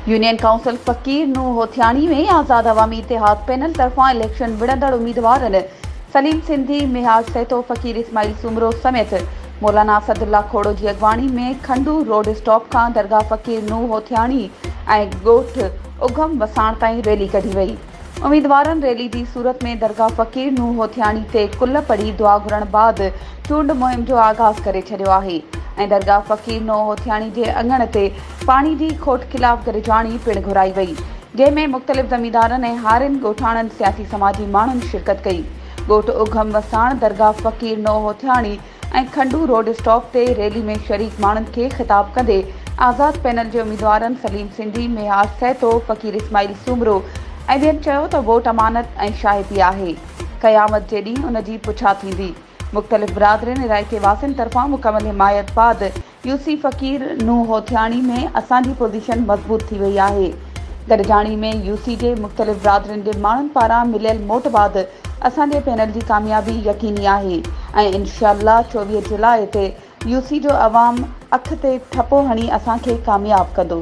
Union council Faqir Nooh Hothiani ۾ Azad Awami Ittehad panel طرفان election وڙهندڙ اميدوارن سليم سنڌي، مهاج سهتو، فقير اسماعيل سومرو سميت مولانا اسدالله کوڙو جي اڳواڻي ۾ کنڊو روڊ اسٽاپ کان درگاهه فقير نوح هوٿياڻي ۽ ڳوٺ اگهم وساڻ تائين ريلي ڪڍي وئي. اميدوارن ريلي جي صورت ۾ درگاهه فقير نوح هوٿياڻي تي ڪل پڙهي دعا گهرڻ بعد چونڊ مهم جو آغاز ڪري ڇڏيو آهي ۽ درگاهه فقير نوح هوٿياڻي جي اڱڻ تي پاڻي جي کوٽ خلاف گڏجاڻي پڻ گهرائي وئي جنهن ۾ مختلف زميندارن ۽ هارين ڳوٺاڻن سياسي سماجي ماڻهن شرڪت ڪئي ڳوٺ اگهم وساڻ درگاهه فقير نوح هوٿياڻي ۽ کنڊو روڊ اسٽاپ تي ريلي ۾ شريڪ ماڻهن کي خطاب ڪندي آزاد پينل جي اميدوارن سليم سنڌي، ميهار سهتو، فقير اسماعيل سومرو ۽ ٻين چيو ته ووٽ امانت ۽ شاهپي آهي، قيامت جي ڏينهن ان جي پڇا ٿيندي، مختلف برادرين علائقي واسين طرفان مڪمل حمايت بعد يوسي فقير نوح هوٿياڻي ۾ اسان جي پوزيشن مضبوط ٿي وئي آهي. گڏجاڻي ۾ يوسي جي مختلف برادرين جي ماڻهن پاران مليل موٽ بعد اسان جي پينل جي ڪاميابي يقيني آهي ۽ انشاء الله چوويهه جولاء تي يوسي جو عوام اک تي ٺپو هڻي اسان کي ڪامياب ڪندو.